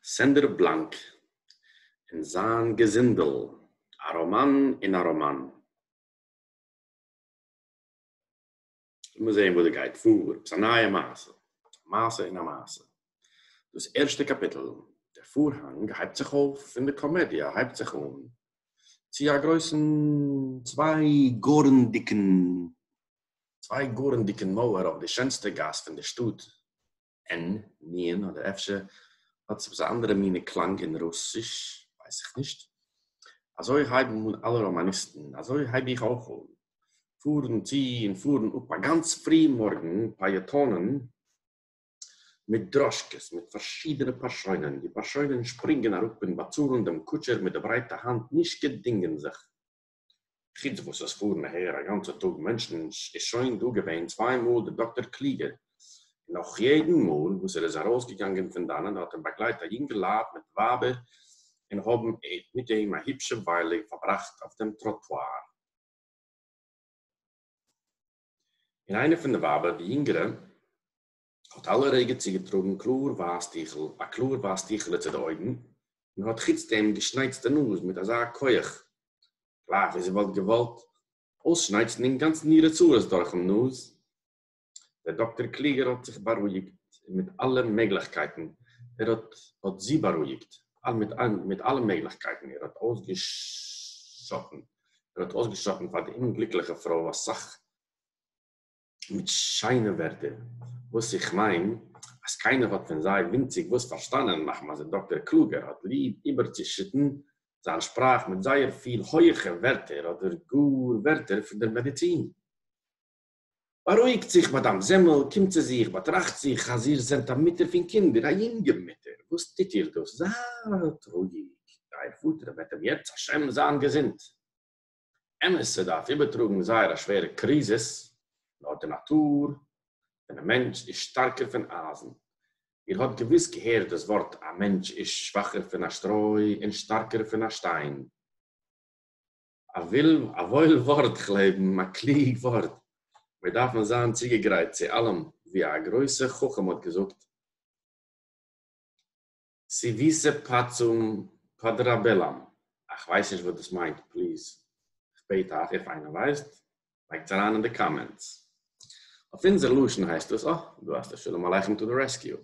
סענדער בלאנק און זיין געזינדל, א ראמאן אין א ראמאן. לאמיר זעהן וואס דא גייט פאר, עפעס א נייע מעשה, א מעשה אין א מעשה. דאס ערשטע קאפיטל, דער פארהאנג הייבט זיך אויף און די קאמעדיע הייבט זיך אן, צו א גרויסן צוויי גארן דיקן צוויי גארן דיקן מויער אויף די שענסטע גאס פון די שטאט, אין ניען, אדער אפשר האט עס עפעס א אנדערע מינע קלאנג אין רוסיש, ווייס איך נישט. אזוי הייבן אן אלע ראמאניסטן, אזוי הייב איך אויך אן, פארן צו און פארן אפ א גאנץ פרי מארגן פעיעטאנען מיט דראשקעס מיט פארשידענע פארשוינען, די פארשוינען שפרינגען אראפ און באצאלן דעם קוטשער מיט די ברייטע האנט נישט געדינגען זיך. חוץ וואס עס פארן אהער א גאנצע טאג מענטשן איז שוין דא געווען צוויי מאל דער דאקטער קלוגער און נאך יעדן מאל וואס ער איז ארויסגעגאנגען פון דאנען האט אים באגלייט א יונגערלייט מיט ווייבער און האבן מיט אים א היפשע וויילע פארבראכט אויף דעם טראטואר. און איינע פון די ווייבער די יונגערע. האָט אַלע רגע צוגעטראָגן קלאָר ווייס טיכל, אַ קלאָר ווייס טיכעלע צו די אויגן, און האָט חוץ דעם געשנייצט די נאָז מיט אַזאַ כח, גלייך ווי זי וואָלט געוואָלט אויסשנייצן אינגאַנצן אירע צרות דורכן נאָז. דער דאָקטער קלוגער האָט זיך באַרואיקט מיט אַלע מעגלעכקייטן, ער האָט האָט זי באַרואיקט מיט אַלע מעגלעכקייטן, ער האָט אויסגעשאָטן, ער האָט אויסגעשאָטן פאַר די אומגליקלעכע פרוי אַ סך, מיט שיינע ווערטער וואס איך מיין אז קיינער האט פון זיי ווינציג וואס פארשטאנען מאכן אז דער דאקטער קלוגער האט ליב איבערצושיטן זיין שפראך מיט זייער פיל הויעכע ווערטער אדער גאר ווערטער פון דער מעדיצין. בארואיגט זיך מאדאם זעמל, קומט צו זיך, באטראכט זיך אז איר זענט א מוטער פון קינדער, א יונגע מוטער, וואס טוט איר דאס? זייט רואיג, אייער פאטער וועט אים יעצט השם זיין געזונט. אמת ס'וועט דארט איבערטראגן זייער א שווערע קריזיס, נאר די נאטור פונעם מענטש איז שטארקער פון אייזן. איר האט געוויס געהערט דאס ווארט א מענטש איז שוואכער פון א שטרוי און שטארקער פון א שטיין. א וואויל ווארט כ'לעבן, א קלוג ווארט. מיר דארפן זיין צוגעגרייט צו אלעם, ווי א גרויסע חכם האט געזאגט, סיוויסע פאצום פאדראבעלאם, איך ווייס נישט וואס דאס מיינט, פליז איך בעט אייך איף איינער ווייסט לייגטס אריין אין די קאמענטס. אויף אונזער לשון הייסט דאס, אה דא האסטו שלום עליכם טו די רעסקיו.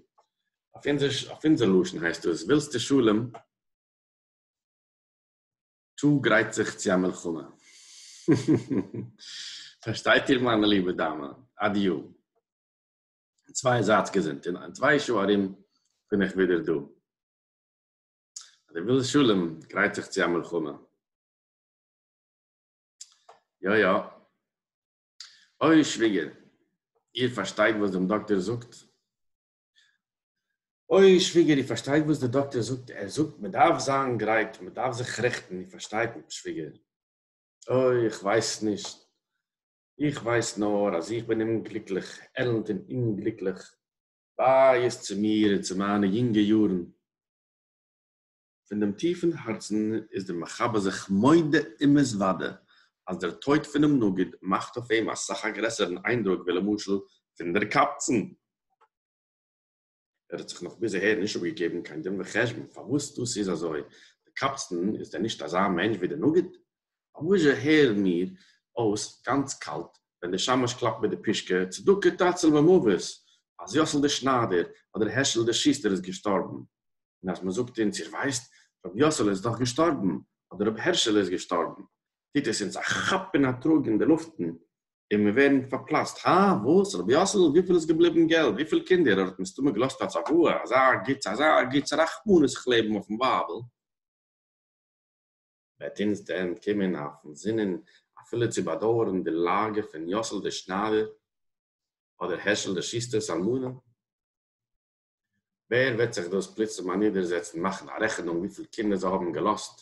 אויף אונזער לשון הייסט דאס, ווילסטו שלום טו גרייט זיך צו א מלחמה. פארשטייט איר מיינע ליבע דאמע? אדיו. און צוויי זייטס געזונט און אין צוויי שעה ארום בין איך ווידער דא. אז דו ווילסט שלום גרייט זיך צו א מלחמה. יא יא. אוי שוויגער, איר פארשטייט וואס דעם דאקטער זאגט? אוי שוויגער, איר פארשטייט וואס דער דאקטער זאגט? ער זאגט מען דארף זיין גרייט, מען דארף זיך רעכטן, איר פארשטייט שוויגער? אוי איך ווייס נישט. איך ווייס נאָר, אַז איך בין אומגליקלעך, עלנט און אומגליקלעך. וויי איז צו מיר און צו מײַנע יונגע יאָרן! פֿון דעם טיפֿן האַרצן איז דער מחבר זיך מודה ומתוודה, אַז דער טויט פֿונעם נגיד מאַכט אויף אים אַ סך אַ גרעסערן אײַנדרוק ווי, למשל, פֿון דער קבצן. ער האט זיך נאך ביז אהער נישט אפגעגעבן קיין דין וחשבון פארוואס דאס איז אזוי, דער קאפסטן איז דען נישט אזא מענטש ווי דער נגיד? פארוואזשע הערן מיר אויס גאנץ קאלט ווען דער שמש קלאפט מיט די פישקע צדקה תציל ממוות אז יאסל דער שניידער אדער העשל דער שוסטער איז געשטארבן, און אז מ'זאגט אונז איר ווייסט רבי יאסל איז דאך געשטארבן אדער רבי הערשל איז געשטארבן, טוט עס אונז א כאפ און א טראג אין די לופטן, און מיר ווערן פארפלאצט, הא? וואס? רבי יאסעלע? וויפיל איז געבליבן געלט? וויפיל קינדער? ער האט מסתמא געלאזט א צוואה, אזא גוטס, אזא גוטס, רחמנות איך לעבן אויפן ווייבל, וועט אונז דען קומען אויפן זינען אפילו צו באדויערן די לאגע פון יאסל דער שניידער, אדער הערשל דער שוסטער'ס אלמנה? ווער וועט זיך דאס פלוצים אנידערזעצן מאכן א רעכענונג וויפיל קינדער זיי האבן געלאזט,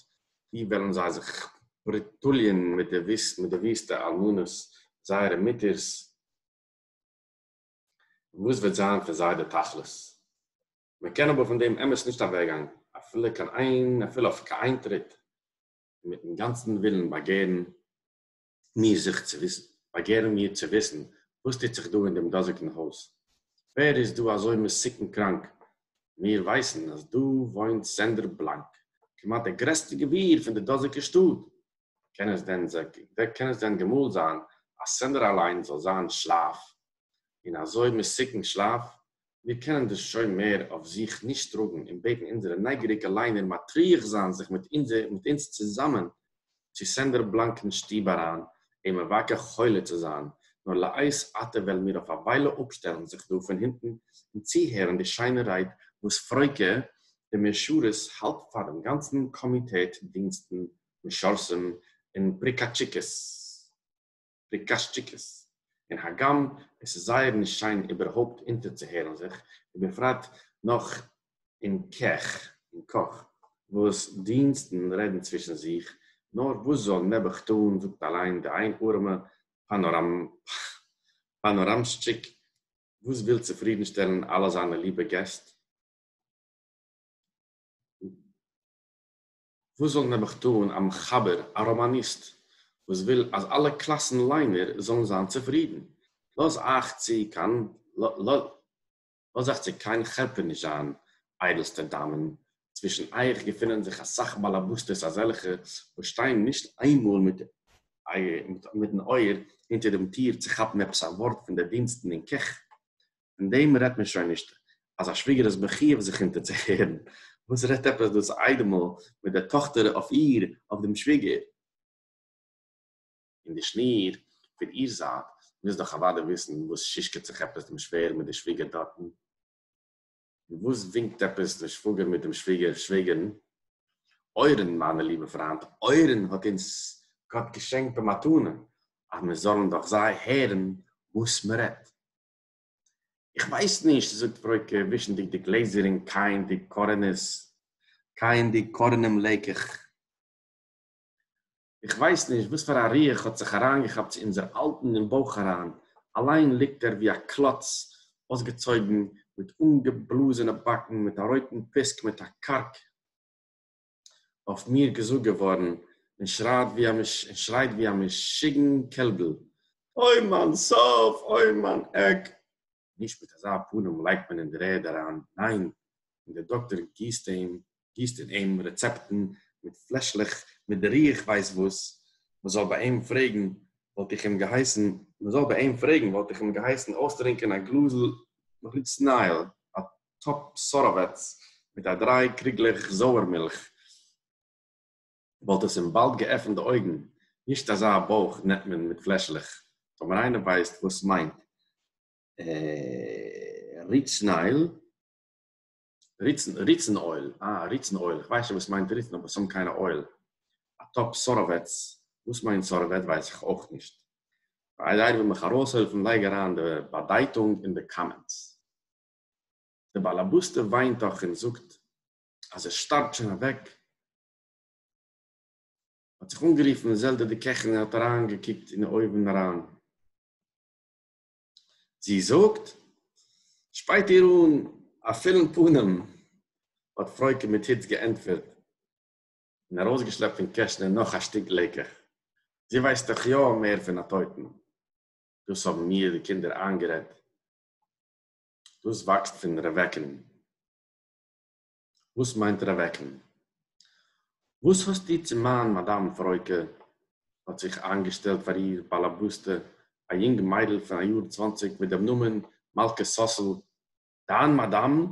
ווי וועלן זיי זיך פריטוליען מיט די וויסטע אלמנות זייערע מוטערס, און וואס וועט זיין פון זיי די תכלית? מען קען אבער פון דעם אמת נישט אוועקגיין אפילו אויף קיין איין טריט, און מיטן גאנצן ווילן באגערן מיר זיך צו וויסן, באגערן מיר צו וויסן, וואס טוט זיך דא אין דעם דאזיקן הויז? ווער איז דא אזוי מסוכן קראנק? מיר ווייסן אז דא וואוינט סענדער בלאנק, כמעט דער גרעסטער גביר פון די דאזיקע שטאט. קען עס דען קען עס דען געמאלט זיין אז סענדער אליין זאל זיין שלאף אין אזוי מסוכן שלאף? מיר קענען דאס שוין מער אויף זיך נישט טראגן און בעטן אונזערע נייגעריגע ליינער מטריח זיין זיך מיט אונז צוזאמען צו סענדער בלאנק'ן שטוב אריין אים מבקר חולה צו זיין, נאר לעת עתה וועלן מיר אויף א וויילע אפשטעלן זיך דא פון הונטן און צוהערן די שיינע רייד וואס פרויקע די מעשארעס האלט פאר דעם גאנצן קאמיטעט דינסטן משרתים און פריקאטשיקעס. די קאשטשיקעס, און הגם עס איז זייער נישט שיין איבערהויפט אונטערצוהערן זיך, ובפרט נאך אין קעך, אין קאך, וואס דינסטן רעדן צווישן זיך, נאר וואס זאל נעבעך טאן, זאגט אליין די איין ארעמע פאנאראמשטשיק, וואס וויל צופרידנשטעלן אלע זיינע ליבע געסט, וואס זאל נעבעך טאן א מחבר, א ראמאניסט, וואס וויל אז אלע קלאסן ליינער זאלן זיין צופרידן? לאז אייך צו קיין לאז אייך צו קיין חרפה נישט זיין, איידלסטע דאמען, צווישן אייך געפינען זיך אסאך באלעבוסטעס אזעלכע וואס שטייען נישט איינמאל מיט מיטן אויער אונטער דעם טיר צו כאפן עפעס א ווארט פון די דינסטן אין קעך, פון דעם רעדט מען שוין נישט, אז א שוויגער איז מחיוב זיך אונטערצוהערן, וואס רעדט עפעס דאס איידעמל מיט דער טאכטער אויף איר, אויף דעם שוויגער? און די שניר פון איר זייט מוז דאך אוודאי וויסן וואס שישקעט זיך עפעס דעם שווער מיט דער שוויגער דארטן, און וואס ווינקט עפעס דער שוואגער מיט דעם שוויגער, שוועגערן, אוירן, מיינע ליבע פריינט, אוירן האט אונז גאט געשענקט במתנה, אז מיר זאלן דאך זיי הערן וואס מ'רעדט. איך ווייס נישט, זאגט פרויקע, ווישנדיג די גלעזער און קייענדיג קארענערס, קייענדיג קארענעם לעיקעך. איך ווייס נישט וואס פאר א רוח האט זיך אריינגעכאפט צו אונזער אלטן אין בויך אריין, אליין ליגט ער ווי א קלאץ, אויסגעצויגן, מיט אנגעבלאזענע באקן, מיט א רויטן פיסק, מיט א קארק. אויף מיר געזאגט געווארן און שרייט ווי א משוגען קעלבל, אוי מיין סוף! אוי מיין עק! נישט מיט אזא פנים לייגט מען אין דער ערד אריין, ניין! און דער דאקטאר גיסט אים, גיסט אין אים רעצעפטן מיט פלעשלעך מיט דער איך ווייס וואס, מען זאל ביי אים פרעגן וואלט איך אים געהייסן, מען זאל ביי אים פרעגן וואלט איך אים געהייסן אויסטרינקען א גלאזל מחוץ נייעל, א טאפ סאראוועץ מיט א דריי קריגלעך זויער מילך וואלט עס אים באלד געעפנט די אויגן, נישט אזא בויך נעמט מען מיט פלעשלעך, טאמער איינער ווייסט וואס מיינט ריצן אויל, ריצן אויל, אה ריצן אויל, כ'ווייס שוין וואס מיינט ריצן אבער סתם קיינע אויל, א טאפ סאראוועץ, וואס מיינט סאראוועט ווייס איך אויך נישט, פאר איידער איינער וויל מיך ארויסהעלפן לייג אריין די באדייטונג אין די קאמענטס. די באלעבאסטע וויינט דאך און זאגט אז ער שטארבט שוין אוועק, האט זיך אנגערופן זעלדע די קעכין און האט אריין געקוקט אין אויווען אריין, זי זאגט, שפייט איר אן א פולן פנים, האט פרויקע מיט היץ געענטפערט און ארויסגעשלעפט פון קעשענע נאך א שטיק לעקעך, זי ווייסט דאך יא מער פון א טויטן, דאס האבן מיר די קינדער איינגערעדט. דאס וואקסט פון רעוועקן. וואס מיינט רעוועקן? וואס האסטו צו מיין מאדאם פרויקע? האט זיך איינגעשטעלט פאר איר באלעבאסטע א יונג מיידל פון א יאר צוואנציג מיט דעם נאמען מלכה סאסל, דיין מאדאם?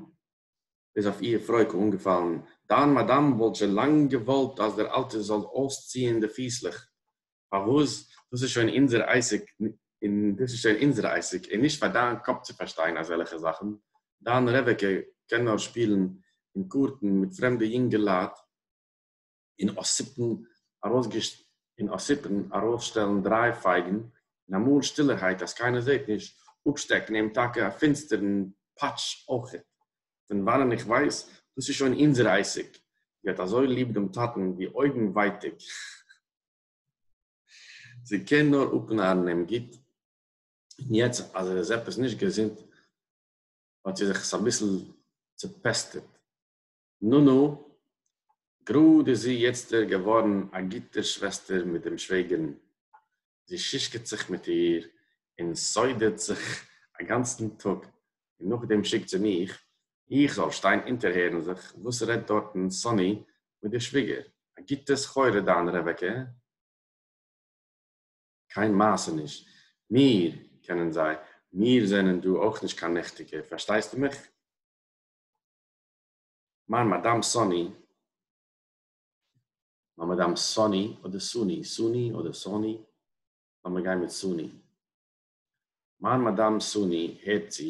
איז אויף איהר פרויקל אנגעפאלן, דיין מאדאם וואלט שוין לאנג געוואלט אז דער אלטער זאל אויסציהן די פיסלעך, פארוואס, דאס איז שוין אונזער עסק און דאס איז שוין אונזער עסק און נישט פאר דיין קאפ צו פארשטיין אזעלעכע זאכן, דיין רעבעקע קען נאר שפילן און קארטן מיט פרעמדע יונגעלייט. און אָסיפּן אַרויסגעש און אָסיפּן אַרויסשטעלן דרײַ פֿייגן, און אַ מאָל שטילערהייט, אַז קיינער זעט נישט, אָפּשטעקן אים טאַקע אַ פֿינצטערן פּאַטש אויך. פֿון וואַנען איך ווייס, דאָס איז שוין אונדזער עסק. זי האָט אַזוי ליב דעם טאַטן, ווי אויגן ווייטיק. זי קען נאָר אָפּנאַרן אים גוט. און יעצט, אַז ער איז עפּעס נישט געזונט, האָט זי זיך עס אַ ביסל צעפּעסטעט. נו נו, גראד איז זי יעצטער געווארן א גוטע שוועסטער מיט דעם שוועגערן, זי שישקעט זיך מיט איר און סודערט זיך א גאנצן טאג, און נאכדעם שיקט זי מיך איך זאל שטיין אונטערהערן זיך וואס רעדט דארטן סאני מיט די שוויגער, א גוטע סחורה דיין רעבעקע, קיין מעשה נישט, מיר קענען זיי, מיר זענען דא אויך נישט קיין נעכטיגע, פארשטייסטו מיך? מיין מאדאם סאני, מיין מאדאם סאני אדער סוני, סוני אדער סאני, לאמיר גיין מיט סוני, מיין מאדאם סוני הערט צו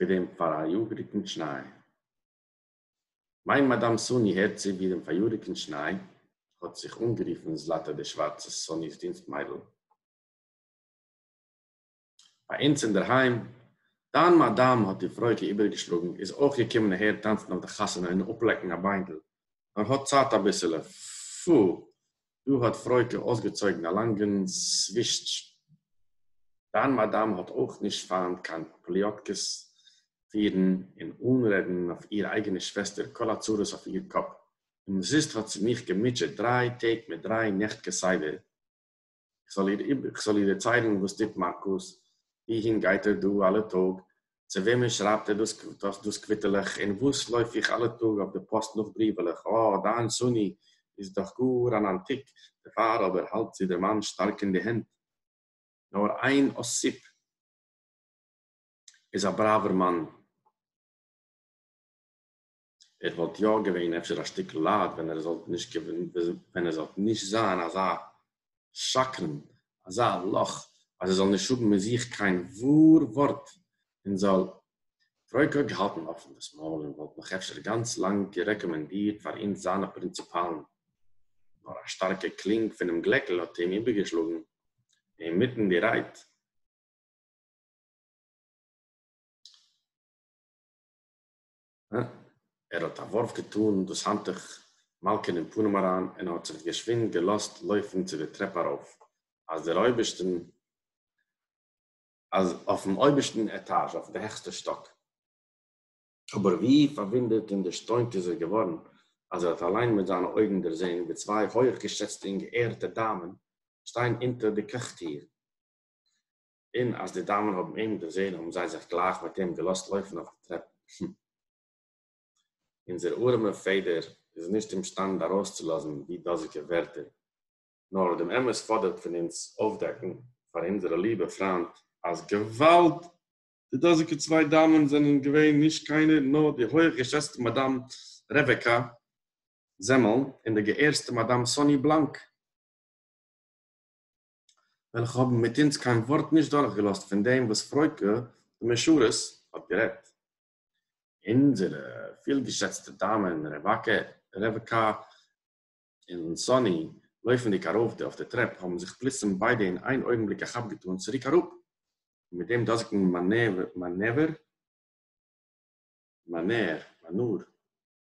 ווי דעם פאראיאגעריגן שניי, מיין מאדאם סאני הערט צו ווי דעם פאריאריגן שניי, האט זיך אנגערופן זלאטע די שווארצע סאני'ס דינסט מיידל. ביי אונז אינדערהיים, דיין מאדאם האט איר פרויקל איבערגעשלאגן, איז אויך געקומען אהער טאנצן אויף די חתונה און אפלעקן א ביינדל, נאר האט צייט אביסעלע, פו, דא האט פרויקל אויסגעצויגן א לאנגן סווישטש, דיין מאדאם האט אויך נישט פיינט קיין פליאטקעס פירן און אנרעדן אויף איר אייגענע שוועסטער כל הצרות אויף איר קאפ, אומזיסט האט זי מיך געמוטשעט דריי טעג מיט דריי נעכט כסדר, כ'זאָל איר איבער, כ'זאָל איר דערציילן, װאָס טוט מאַרקוס, װוּהין גײט ער דאָ אַלע טאָג, צו װעמען שרײַבט ער דאָס, דאָס, דאָס קװיטעלעך, און װאָס לױף איך אַלע טאָג אױף דער פּאָסט נאָך בריװעלעך? אָ, דײַן סוני איז דאָך גאָר אַן אַנטיק! דערפֿאַר אָבער האַלט זי דער מאַן שטאַרק אין די הענט. נאָר אײן אָסיפּ איז אַ בראַװער מאַן. ער וואלט יא געווען אפשר א שטיקל לייט ווען ער זאלט נישט ווען ער זאלט נישט זיין אזא שקרן אזא לאך אז ער זאל נישט האבן אין זיך קיין וואר ווארט און זאל רויק געהאלטן אפן דאס מויל און וואלט נאך אפשר גאנץ לאנג גערעקאמענדירט פאר אונז זיינע פרינציפאלן נאר א שטארקע קלינג פונעם גלעקל האט אים איבערגעשלאגן אינמיטן די רייד. ער האָט אַ װאָרף געטאָן דאָס האַנטעך מאַלקען אין פּנים אַרײַן און האָט זיך געשװינד געלאָזט לױפֿן צו דער טרעפּ אַרױף, אַז דער אױבערשטן, אַז אױפֿן אױבערשטן עטאַזש, אױף די העכסטע שטאָק. אָבער װי פֿאַרװוּנדערט און דערשטױנט איז ער געװאָרן, אַז ער האָט אַלײן מיט זײַנע אױגן דערזען, װי צװײ הױך-געשעצטע און געערטע דאַמען שטײען אונטער דער קעך-טיר, און אַז די דאַמען האָבן אים דערזען, האָבן זיי זיך גלייך מיט אים געלאָזט לויפֿן אויף די טרעפּן. הום! אונדזער אָרעמע פֿעדער איז נישט אימשטאַנד אַרויסצולאָזן די דאָזיקע ווערטער, נאָר דעם אמת פֿאָדערט פֿון אונדז אויפֿדעקן פֿאַר אונדזערע ליבע פֿרײַנד, אַז געוואַלד! די דאָזיקע צוויי דאַמען זענען געווען נישט קיינער, נאָר די הויך-געשעצטע מאַדאַם רעוועקאַ זעמעלן און די געערסטע מאַדאַם סאָני בלאַנק. וועלכע האבן מיט אונז קיין ווארט נישט דורכגעלאזט פון דעם וואס פרויקע די משרת האט גערעדט. אונזערע פילגעשעצטע דאמען רעבעקע און סאני, לויפנדיג ארויף די אויף די טרעפ, האבן זיך פלוצים ביידע אין איין אויגנבליק א כאפ געטאן צוריק אראפ, און מיט דעם דאזיגן מאנעווער, מאנער,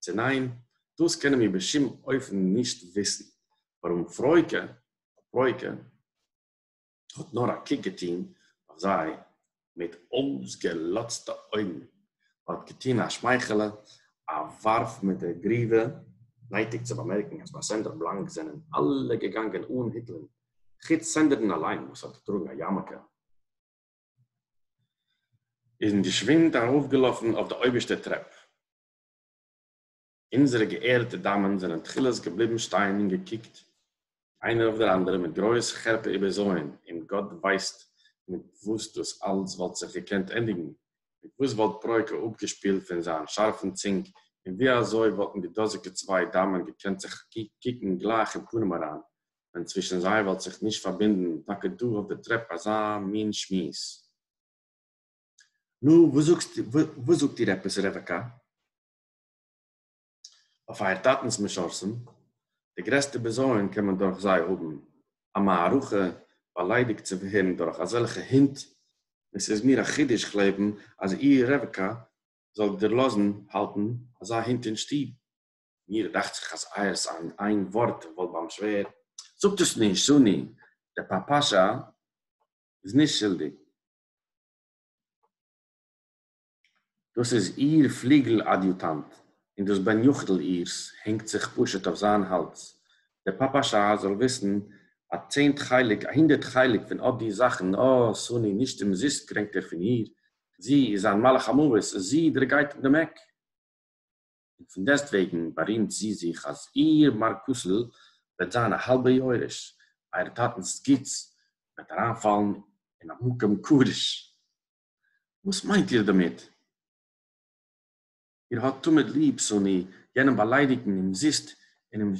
צו ניין, דאס קענען מיר בשום אופן נישט וויסן, ווארום פרעוקע, פרעוקע, האט נאר א קוק געטון אויף זיי מיט אויסגעלאזטע אויגן, האט געטון א שמייכעלע, א ווארף מיט דער גריווע, נייטיק צו באמערקן אז ביי סענדער בלאנק זענען אלע געגאנגען אן היטלען, חוץ סענדער'ן אליין וואס האט געטראגן א יארמעלקע, און געשווינד ארויפגעלאפן אויף די אויבערשטע טרעפ, אונזערע געערטע דאַמען זענען תּחילת געבליבן שטיין און געקוקט איינער אויף דער אַנדערער מיט גרויס חרפּה איבערזויען, און גאָט ווייסט מיט וואָס דאָס אַלץ וואָלט זיך געקענט ענדיגן, מיט וואָס וואָלט פּרעה כ א אָפּגעשפּילט פון זיין שאַרפן צונג, און ווי אַזוי וואָלטן די דאָזיקע צוויי דאַמען געקענט זיך קוקן גלייך אין פּנים אַריין, ווען צווישן זיי וואָלט זיך נישט פאַרבונדן טאַקע דאָ אויף דער טרעפּ אַזאַ מין שמועס. נו, וואס זאגסט איר, וואס זאגט איר עפעס רעבעקע? אויף אייער טאטנ'ס משרתים, די גרעסטע בזיון קען מען דורך זיי האבן, א מערכה באליידיגט צו ווערן דורך אזעלכע הינט, און ס'איז מיר א חידוש כ'לעבן אז איר רעבעקע זאל דערלאזן האלטן אזא הינט אין שטוב. מיר דאכט זיך אז אייער'ס איין איין ווארט וואלט ביים שווער. זאגט עס נישט, זאלי, דער פאפאשא איז נישט שולדיג, דאָס איז איר פֿליגל-אַדיוטאַנט, און דאָס בן-יחידל אירס הענגט זיך פּשוט אױף זײַן האַלדז. דער פּאַפּאַשאַ זאָל װיסן, אַ צענט חלק, אַ הונדערט חלק פֿון אָט די זאַכן, אָ, סאָני, נישט אומזיסט קרענקט ער פֿון איר. זי איז זײַן מלאך-המװת, זי דערגײט אים דעם עק. און פון דעסטוועגן בארימט זי זיך אז איר מארקוסל וועט זיין א האלבע יורש, אייער טאטנ'ס גוטס וועט אריינפאלן אין א מקום קדוש. וואס מיינט איר דערמיט? איר האט תמיד ליב שונא, יענעם באליידיגן אומזיסט און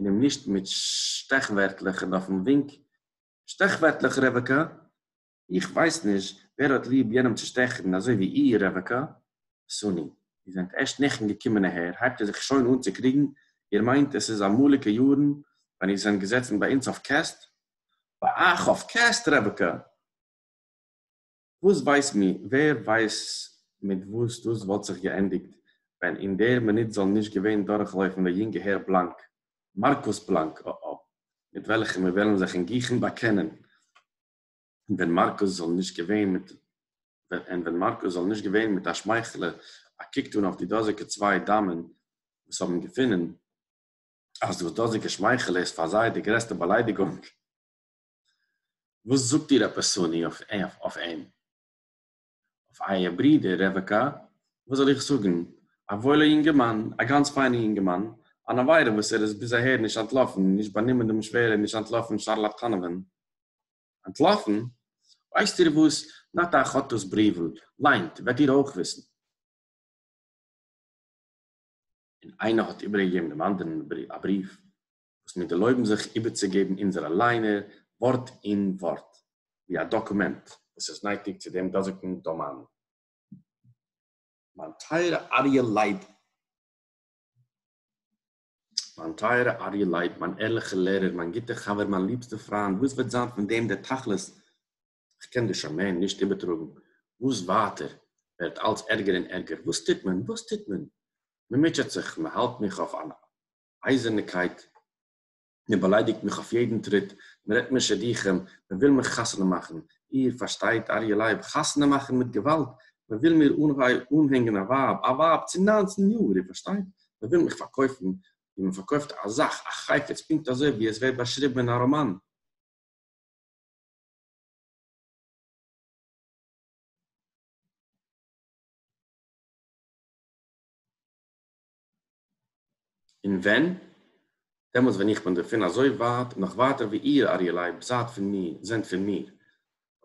אים נישט מיט שטעכווערטלעך און אויפן ווינק, שטעכווערטלעך רבקה, איך ווייס נישט ווער האט ליב יענעם צו שטעכן אזוי ווי איר רבקה וסוני, איר זענט ערשט נעכן געקומען אהער הייבט איר זיך שוין אן צו קריגן, איר מיינט עס איז אמאליגע יארן ווען איר זענט געזעצן ביי אונז אויף קעסט? ביי אייך אויף קעסט רבקה? וואס ווייס מיר, ווער ווייסט מיט וואס דאס וואלט זיך געענדיגט ווען אין דער מינוט זאל נישט געווען דורכלויפן דער יונגער הער בלאנק, מארקוס בלאנק, א א, מיט וועלכן מיר וועלן זיך אין גיכן באקענען, און ווען מארקוס זאל נישט געווען מיט און ווען מארקוס זאל נישט געווען מיט א שמייכעלע א קוק טאן אויף די דאזיגע צוויי דאמען וואס האבן געפונען אז דאס דאזיגע שמייכעלע איז פאר זיי די גרעסטע באליידיגונג. וואס זאגט איר עפעס פאני אויף אים? אויף אייער ברודער רבקה, וואס זאל איך זאגן, א וואוילער יונגערמאן, א גאנץ פיינער יונגערמאן, אן עבירה וואס ער איז ביז אהער נישט אנטלאפן, נישט באנומען דעם שוועל און נישט אנטלאפן שארלאטאנעווען. אנטלאפן? ווייסט איר וואס, נאט אייך האט דאס בריוול, ליינט, וועט איר אויך וויסן. און איינער האט איבערגעגעבן דעם אנדערן א בריוו. וואס מיר דערלויבן זיך איבערצוגעבן אונזערע ליינער ווארט אין ווארט, ווי א דאקומענט וואס איז נייטיק צו דעם דאזיקן דאמעין. מיין טייערע אריה לייב, מיין טייערע אריה לייב, מיין ערליכער לערער, מיין גוטער חבר, מיין ליבסטער פריינד, וואס וועט זיין פון דעם דער תכלית? איך קען דיר שוין מער נישט איבערטראגן. וואס ווייטער, ווערט אלץ ערגער און ערגער. וואס טוט מען? וואס טוט מען? מען מוטשעט זיך, מען האלט מיך אויף אן אייזערנעקייט, מען באליידיגט מיך אויף יעדן טריט, מען רעדט מיר שידוכים, מען וויל מיך חתונה מאכן, איר פארשטייט, אריה לייב, חתונה מאכן מיט געוואלד, מען וויל מיר אנהענגען א ווייב, א ווייב צו נײַנצן יאר, איר פארשטייט, מען וויל מיך פארקויפן, ווי מען פארקויפט א זאך, א חפץ, פונקט אזוי ווי עס ווערט באשריבן אין א ראמאן. און ווען? דעמאלטס ווען איך בין דערפון אזוי ווייט, נאך ווייטער ווי איר, אריה לייב, זייט פון מיר, זענט פון מיר.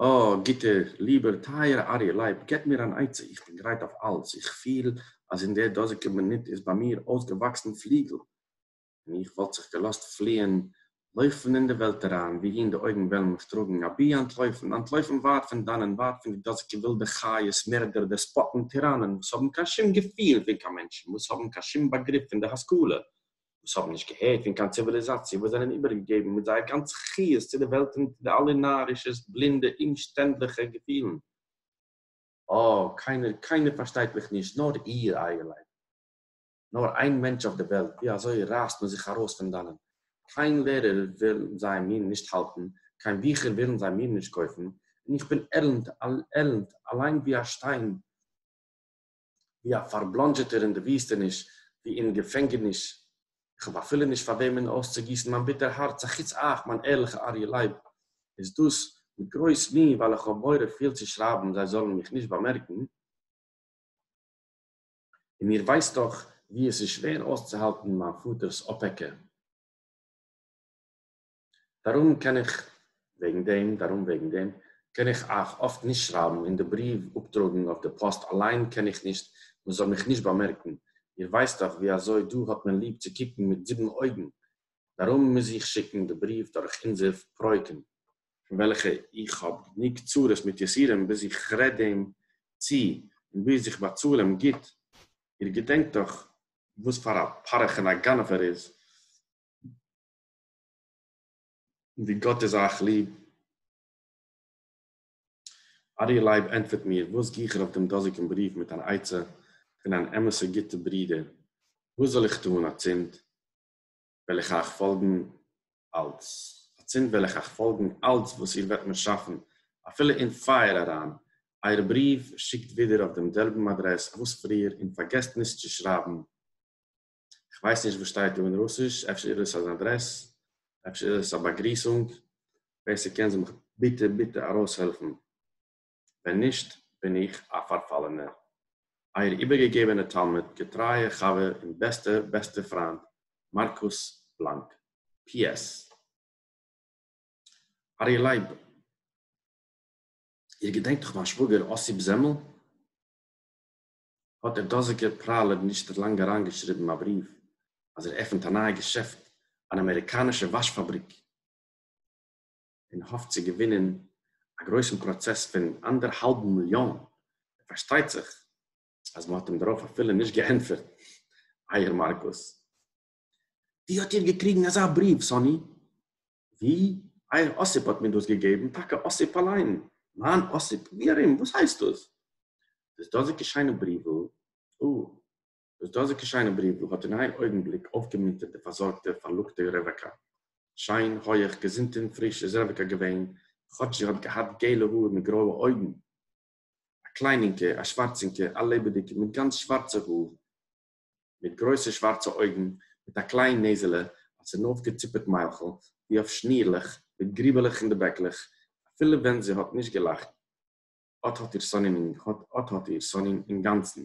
אָ, גוטער, ליבער, טייערער אריה לייב, געבט מיר אַן עצה, איך בין גרייט אויף אַלץ, איך פיל, אַז אין דער דאָזיקער מינוט איז ביי מיר אויסגעוואַקסן פליגל, און איך וואָלט זיך געלאָזט פֿליִען, לויפֿן אין די וועלט אַרײַן, וווּהין די אויגן וועלן מיך טראָגן, אַבי אַנטלויפֿן, אַנטלויפֿן ווײַט פֿון דאַנען, ווײַט פֿון די דאָזיקע ווילדע חיות, מערדער, דעספּאָטן, טיראַנען, וואָס האָבן קיין שום געפֿיל פֿון קיין מענטשן, וואָס האָבן קיין שום באַגריף פֿון דער השׂכּלה, וואָס האָבן נישט געהערט פֿון קיין ציוויליזאַציע, וואָס זענען איבערגעגעבן מיט זייער גאַנצע חיות צו דער וועלט און צו די אַלע נאַרישע, בלינדע, אומשטענדלעכע געפֿילן. אָ, קיינער, קיינער פֿאַרשטייט מיך נישט, נאָר איר, אײַערלײַט. נאר איין מענטש אויף די וועלט, ווי אזוי רייסט מען זיך ארויס פון דאנען? קיין לערער ווילן זיי מיר נישט האלטן, קיין ביכער ווילן זיי מיר נישט קויפן, און איך בין עלנד, עלנד, אליין ווי א שטיין, ווי א פארבלאנדזשעטער אין די וויסטעניש, ווי אין געפענגעניש, איך האב אפילו נישט פאר וועמען אויסצוגיסן מיין ביטער הארץ אחוץ אייך מיין ערליכע אריה לייב, איז דאס מיט גרויס מי ווייל איך האב מורא פיל צו שרייבן זיי זאלן מיך נישט באמערקן. און איר ווייסט דאך ווי עס איז שווער אויסצוהאלטן מיין פאטער'ס אפעקע. דארום קען איך, וועגן דעם, דארום, וועגן דעם, קען איך אייך אפט נישט שרייבן און די בריוו אפטראגן אויף די פאסט אליין קען איך נישט, מען זאל מיך נישט באמערקן, איר ווייסט דאך ווי אזוי דא האט מען ליב צו קוקן מיט זיבן אויגן, דארום מוז איך שיקן די בריוו דורך אונזער פרויקן. פון וועלכע איך האב גענוג צרות מיט יסורים ביז איך רעד אים צו און ביז איך באצאל אים גוט, איר געדענקט דאך וואס פאר א פרך און א גנב ער איז, און ווי גאט איז אייך ליב. אריה לייב ענטפערט מיר, וואס גיך ער אויף דעם דאזיגן בריוו מיט אן עצה פון אן אמת'ע גוטע ברודער, וואס זאל איך טאן אצינד? וועל איך אייך פאלגן אלץ, אצינד וועל איך אייך פאלגן אלץ וואס איר וועט מיר שאפן, אפילו אין פייער אריין. אייער בריוו שיקט ווידער אויף דעם זעלבן אדרעס וואס פריער, און פארגעסט נישט צו שרייבן. איך ווייס נישט וואס שטייט דא אין רוסיש, אפשר איז עס אן אדרעס, אפשר איז עס א באגריסונג, ווער ס'קען זאל מיך ביטע ביטע ארויסהעלפן. ווען נישט בין איך א פארפאלענער. אייער איבערגעגעבענע תלמיד געטרייע חבר און בעסטע בעסטע פריינד מארקוס בלאנק. פי. עס. ארי' לייב, איר געדענקט דאך מיין שוואגער אסיפ זעמל? האט דער דאזיגער פראלעב נישט לאנג אריינגעשריבן א בריוו אז ער עפנט א נייע געשעפט, אן אמעריקאנישע וואש פאבריק. און האפט צו געווינען א גרויסן פראצעס פון אנדערהאלבן מיליאן, פארשטייט זיך אז מ'האט אים דערויף אפילו נישט געענטפערט, אייער מארקוס. ווי האט איר געקריגן אזא בריוו, סאני? ווי? אייער אסיפ האט מיר דאס געגעבן, טאקע אסיפ אליין? מיין אסיפ? ווי ארום? וואס הייסט דאס? דאס דאזיקע שיינע בריוול? אה, דאָס דאָזיקע שײנע בריװל האָט אין אײן אױגנבליק אױפֿגעמונטערט די פֿאַרזאָרגטע, פֿאַרלוקטע רעװעקאַ. שײן, הױך, געזונט און פֿריש איז רעװעקאַ געװען, כאָטש זי האָט געהאַט געלע האָר מיט גרױע אױגן, אַ קלײנינקע, אַ שװאַרצינקע, אַ לעבעדיקע, מיט גאַנץ שװאַרצע האָר, מיט גרױסע שװאַרצע אױגן, מיט אַ קלײן נעזעלע, אַ צונױפֿגעציפּעט מײַלכל, װי אױף שנירלעך, מיט גריבעלעך אין די בעקלעך, אַפֿילו װען זי האָט נישט געלאַכט, אָט האָט איר סאָנין אָט האָט איר סאָנין אינגאַנצן,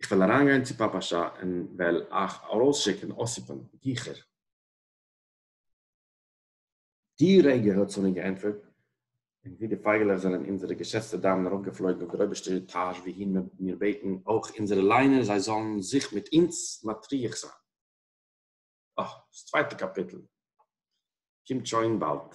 איך וועל אריינגיין צו פאפא שעה און וועל אייך ארויסשיקן אסיפן גיכער. די רגע האט סאני געענטפערט, און ווי די פייגעלעך זענען אונזערע געשעצטע דיימען ארויפגעפלויגן אויף דער אויבערשטער עטאזש וואוהין מען וועט מיר בעטן אויך אונזערע ליינער זיי זאלן זיך מיט אונז מטריח זיין. אה, דאס צווייטע קאפיטל קומט שוין באלד.